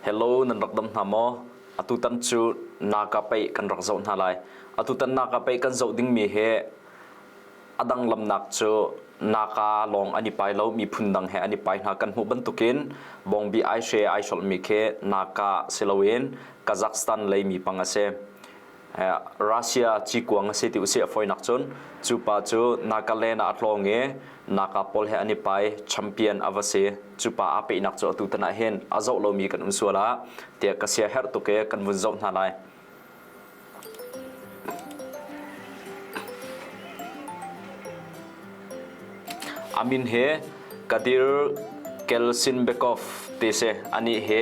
Hello nan rak dam hna maw? Atutan cu naka pei kan rak zoh hna lai. Atutan naka pei kan zoh dingmi hi a dang lamnak cu naka lawng an i pai lo, miphun dang he an i pai hna. Kan hmuh bantukin Bawngbi ai she ai hrolhmi khi naka si loin Kazakhstan lei mi pang a si. Russia cikuang a si ti usih a foinak cun cu pa cu Nagaland ah a tlawng i Naga pawl he an i pai champion a va si. Cu pa aa peihnak cu atu tan ah hin a zoh lomi kan um sual ah tiah ka sia herh tuk i kan vun zoh hna lai. Amin he Kadir Kelsinbekov te se ani he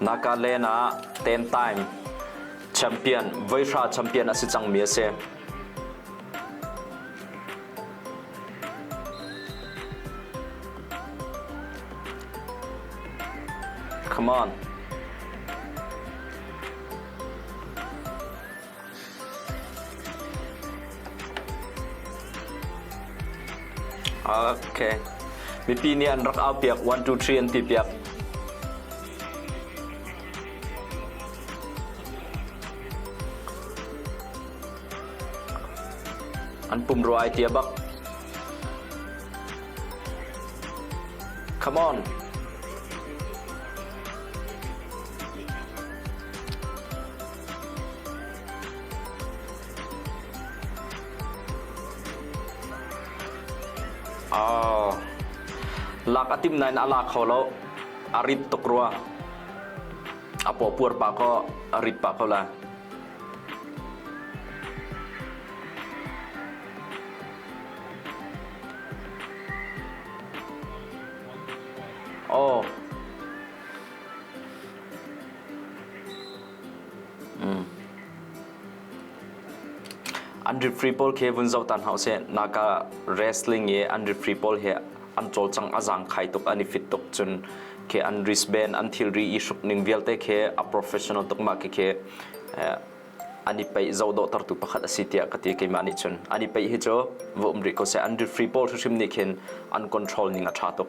Nagaland ah Teentaim champion voihra champion a si cangmi a si. Come on. Mipi nih an rak aupiak. One, two, three an ti piak. An pumrua ai tia bak. Come on. Lak a tim nain a la kho lo. A rit tuk rua. A pawpuar pah ko, a rit pah ko la. Oh. An rip free pawl khi vun zoh ta hna usih. Naka wrestling i an rip free pawl hi an cawlcang a zangkhai tuk an i fit tuk cun khi an wristband an thilri i hruk ning vialte khi a professional tuk ma khi khi an i peih zo dawhtertu pakhat a si tiah ka ti keimah nih cun an i peih hi cu va um rih ko seh an rip free pawl hrimhrim nih khin an control ning a ṭha tuk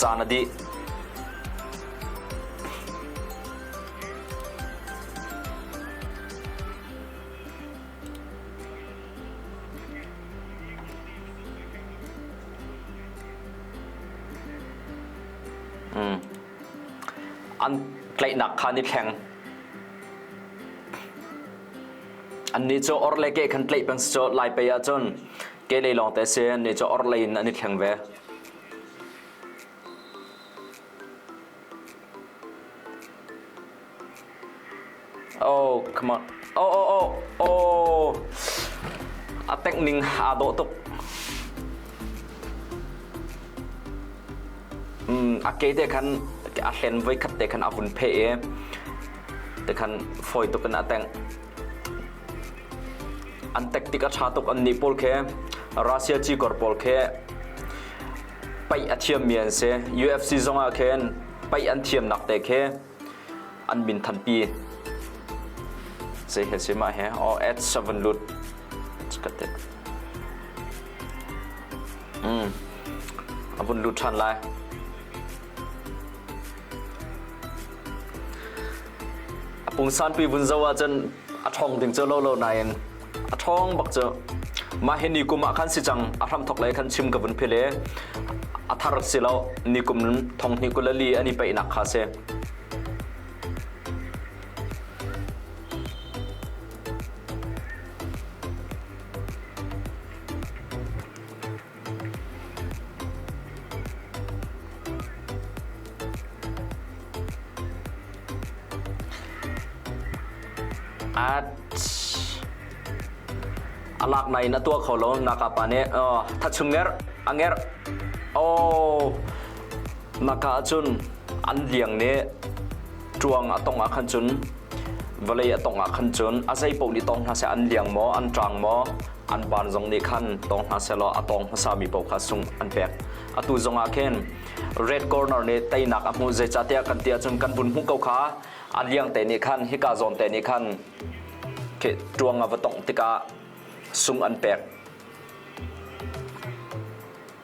Caan a dih. An tlaihnak kha ni thleng. Annih cu orhlei keh khan tlaih peng si cu lai pei ahcun Kehlei lawngte se an ne cu orhlei in an i thleng ve. Oh, come on. Oh, oh, oh, oh. A tek ning aa dawh tuk. Mm, a ke te khan a hlen voi khat te khan a hun phe i te khan fawi tuk in a teng. an tactic a tha tuk an nih pawl khe Russia cikor pawl khe pai a thiam mi an si UFC zong ah khin pai an thiam nak te khe an min than pi sei he si ma he o at 7 lut katte mm abun lut than lai A pungsanpi vun zo ahcun a ṭhawng ding cu lolo nain a ṭhawng bak cu mah hi nikum ah khan si cang a hramthok lei khan chim ka vun philh i a thar si lo nikum thong hnih kul a li an i peihnak kha si. A lak nai in a tuah kho lo. Nakapa nih thachung ngerh, a ngerh. Aw, naka ahcun an liang nih ṭuang a tong ah khan cun vawlei a tong ah khan cun a zei paoh nih tong hna seh an liang maw, an ṭang maw, an ban zong nih khan tawng hna sehlaw a tawng hmasami paoh kha sungh an pek. Atu zongah khin Red Corner nih teinak a hmuh, zeicahtiah kan ti ahcun kan vun hmuh ko kha a liangte nih khan hika zawnte nih khan ṭuang a va tongh tikah sung an pek.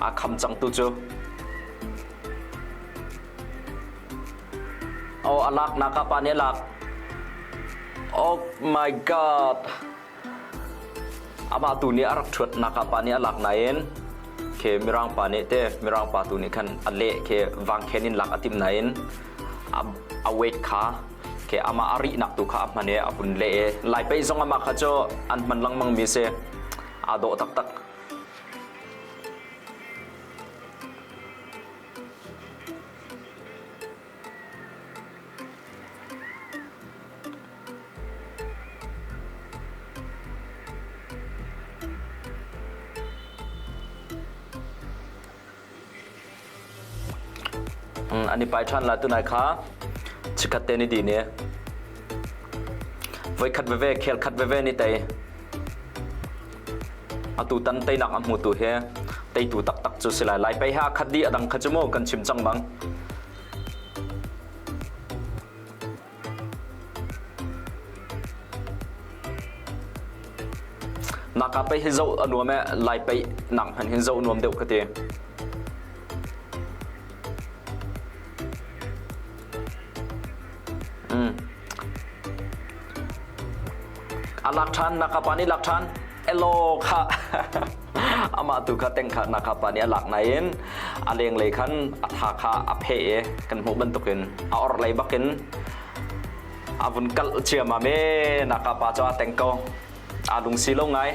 Aa kham cang tu cu. Oh, a lak naka pa nih a lak. Oh my god. Amah tu nih a rak ṭhuat naka pa nih a lak nain khe mirang pa nih te mirang pa tu nih khan a leh khe vang khen in lak a tim nain a, a weight kha ke amah a rihnak tu kha a hman i a hun leh i lai pei zong amah kha cu an hman lengmang mi si aa dawh taktak an i pai ṭhan lai tunai kha chikhat te ni di ni voikhat veve khel khat veve ni tei atu tan teinak a hmu tu hi teitu taktak cu si lai lai pei ha khat di adang kha cu mu kan chim cang bang Maka pei hi zoh a nuam e, Lai pei nak hmanh hin zoh nuam deuh ka ti. A lak ṭhan, naka pa nih lak ṭhan. elaw kha amah tu kha tengkharnak kha pa nih a lak nain a lenglei khan a tha kha a phe i kan hmuh bantukin a orhlei bakin a vun kalh ciam a me naka pa cu a teng ko a lungsi lo ngai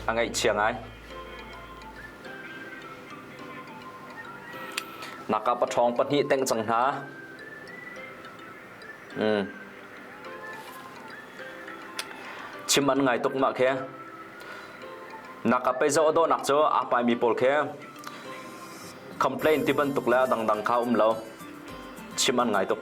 a ngaihchia ngai naka pa ṭhawng pahnih teng cang hna chim an ngai tuk mah khe nak ah peizo adaw nak cu aa pai mi pawl khe complain ti bantuk le dangdang kha um lo chim an ngai tuk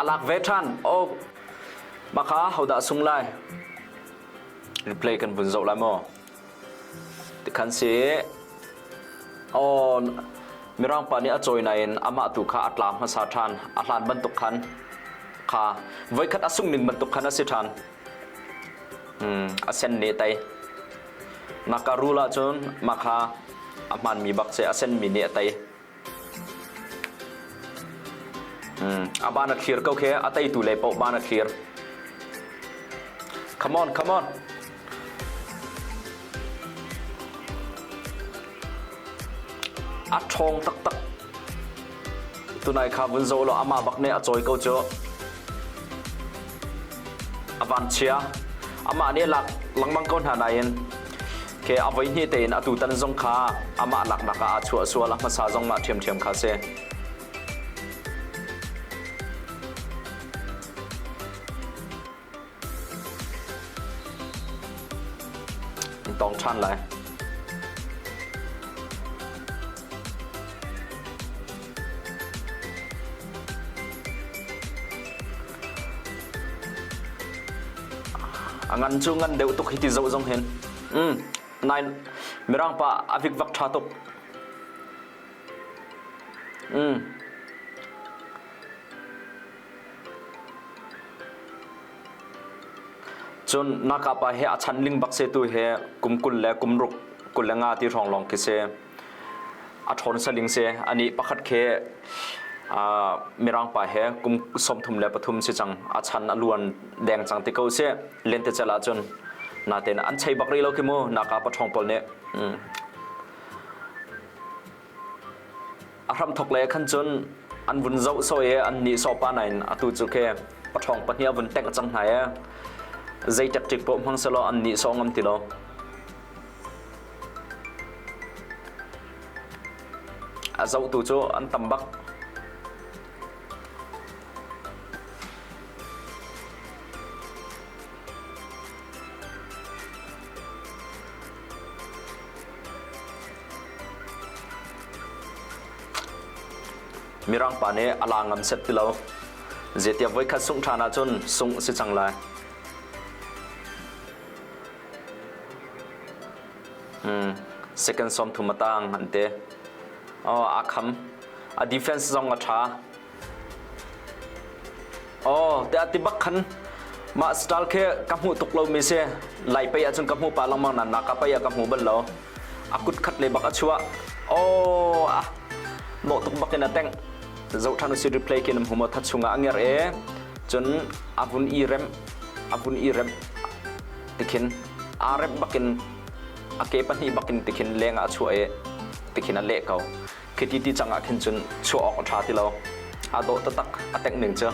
A lak ve ṭhan. Oh, makha hodah sung lai? Replay kan vun zoh lai maw? Tikhan si. Oh, Mirang pa nih a cawi nain amah tu kha a tlam hmasa ṭhan. A hlan bantuk khan kha voikhat a sung ning bantuk khan a si ṭhan. Hmm, a sen ne tai. Nakarula cun makha a hmanmi bak se a senmi ne a tai. A ban a thlir ko khi a teitu lei paoh ban a thlir. Come on, come on. A ṭhawng taktak. Tunai kha vun zo law amah bak nih a cawi ko cu. A van chia. Amah nih lak lengmang ko hna nain Ke a voi hnih tein a tutan zong kha amah laknak ah a chuah sual a hmasa zong mah ṭhiamṭhiam kha a si. In tawng ṭhan lai. A ngan cu ngan deuh tuk hiti zoh zong hin. Mm. Nain Mirang pa a vikvak ṭha tuk. Mm. Cun naka pa he a chan ling bak se tu he kum kul le kum ruk kul le nga ti hrawng lawng khi si. a ṭhawn saling si a nih pakhat khi mirangpa he kum sawmthum le pathum si cang a chan a luan deng cang ti ko si lentecelh ahcun natein an chei bak rih lo khi mu naka paṭhawng pawl nih a hramthok le khan cun an vun zoh soi i an nih sawh pa nain atu cu ke paṭhawng pahnih a vun tengh cang hna i zei ṭekṭik pawh hmang selaw an nih sawh ngam ti lo. A zohtu cu an tam bak. Mirang pa nih a la ngam set ti lo. Zeitiah voikhat sungh ṭhan ahcun sungh si cang lai. Hmm, second sawm thum a tang an ti. Oh, a kham. A defense zong a ṭha. Oh, tiah ti bak khan mah style khi ka hmuh tuk lo mi si. Lai pei ahcun ka hmu pa lengmang nan nak ka pei ah ka hmu bal lo. A kut khat le bak a chua. Oh, ah no tuk bak in a teng. Zo thanu si replay kin hmu mo tha chunga anger e. Chun avun i rem avun i rem tikhin a rem bakin a ke pahnih bakin tikhin lenga a chua e tikhin a le ko Khi ti ti cang ah khin cun chuah awk a ṭha ti lo. Aa dawh taktak, a tengh ning cu.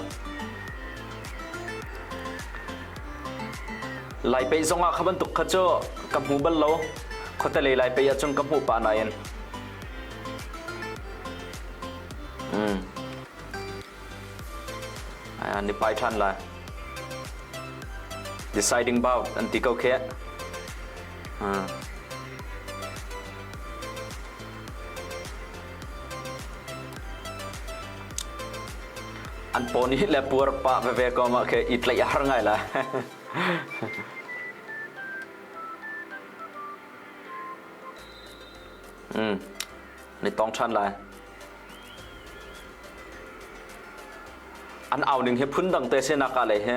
Lai pei zong ah kha bantuk kha cu ka hmu bal lo. Khuatelei lai pei ahcun ka hmuh pah nain. Mm. An i pai ṭhan lai. Deciding about an ti ko khi. Mm. An paw nih le puar pa veve kom ah khe i tlaih a har ngai la. mm. Ni tong than lai. An au ning he phun dang te se naka le he.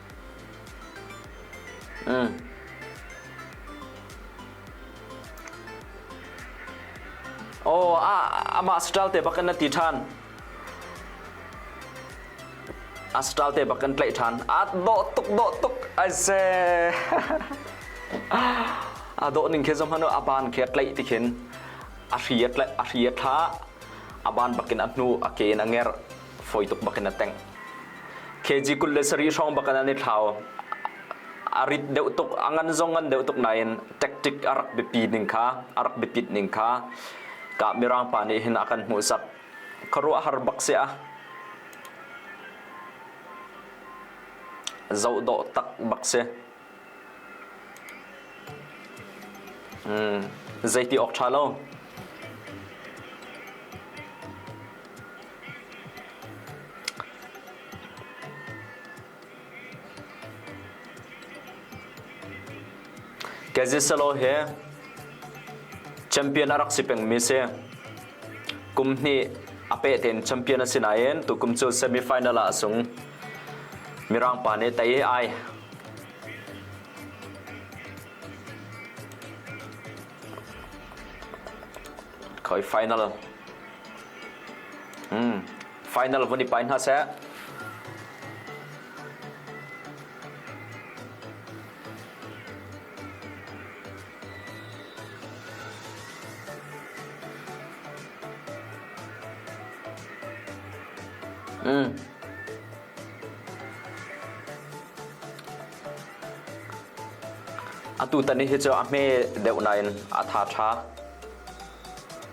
Oh, amah hospital te bakin na ti ṭhan. Hospital te bakin tlaih ṭhan. A dawh tuk dawh tuk ai se. A dawh ning khe zong hanu a ban khe tlaih tikhin a hri a tlaih a hri a thla a ban bakin a hnu a ke in a nger fawi tuk bak in a tengh kg kul le sarih hrawng bak in an i thlau a rit deuh tuk a ngan zong ngan deuh tuk nain tactic a rak biapi ning kha a rak biapit ning kha ka mirang pa nih hin a kan hmuhsak khuaruah har bak se a zoh dawh tak bak si Zeiti awk ṭha lo. Caziasalo hi champion a rak si pengmi si. kum hnih a peh tein champion a si nain tukum cu semi final ah a sung mirang pa nih tei ai khoi final hmm final vun i pai hna seh Atu tan hi cu a hme deuh nain a tha tha.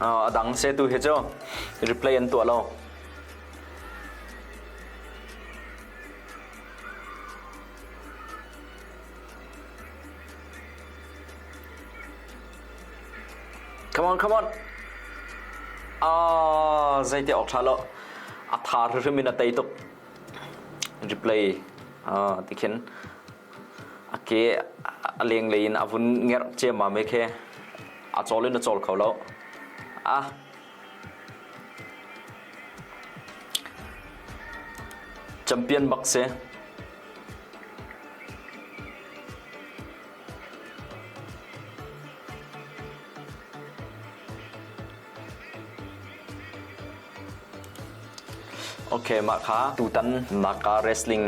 A dang setu hi cu replay an tuah lo. Come on, come on. Ah, zeite ok tha lo. A thar hrim in a tei tuk. Replay ah ti khin a ke a lenglei in a vun ngerh ciammam i khe a cawl in a cawl kho lo. A champion bak si. Okay, mah kha tutan naka wrestling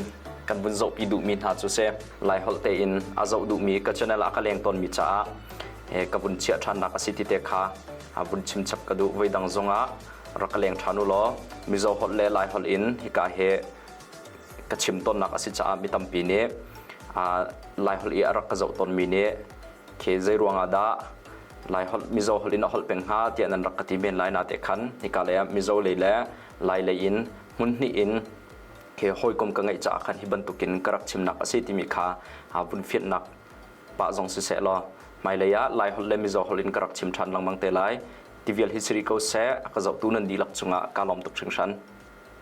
kan vun zohpi duhmi hna cu si. Lai holh tein a zoh duhmi ka channel ah ka leng tawnmi caah eh, ka vun chiah ṭhannak a si ti te kha a vun chimchap ka duh. Voi dang zongah rak ka leng ṭhan u law Mizo holh le Lai holh in hika he ka chim tawnnak a si caah mi tampi nih ah, Lai holh i a rak ka zoh tawnmi nih khi zei ruangah dah Lai holh Mizo holh in a holh peng hnga tiah nan rak ka ti men lai na te khan hika lei ah Mizo lei le Lai lei in hmun hnih in he hawikom ka ngeih caah khan hi bantuk in ka rak chimnak a si timi kha vun fiannak pa zong si seh law hmailei ah Lai holh le Mizo holh in ka rak chim ṭhan lengmang te lai tivial hi siri ko seh ka zohtu nan dihlak cungah kaa lawm tuk hringhran.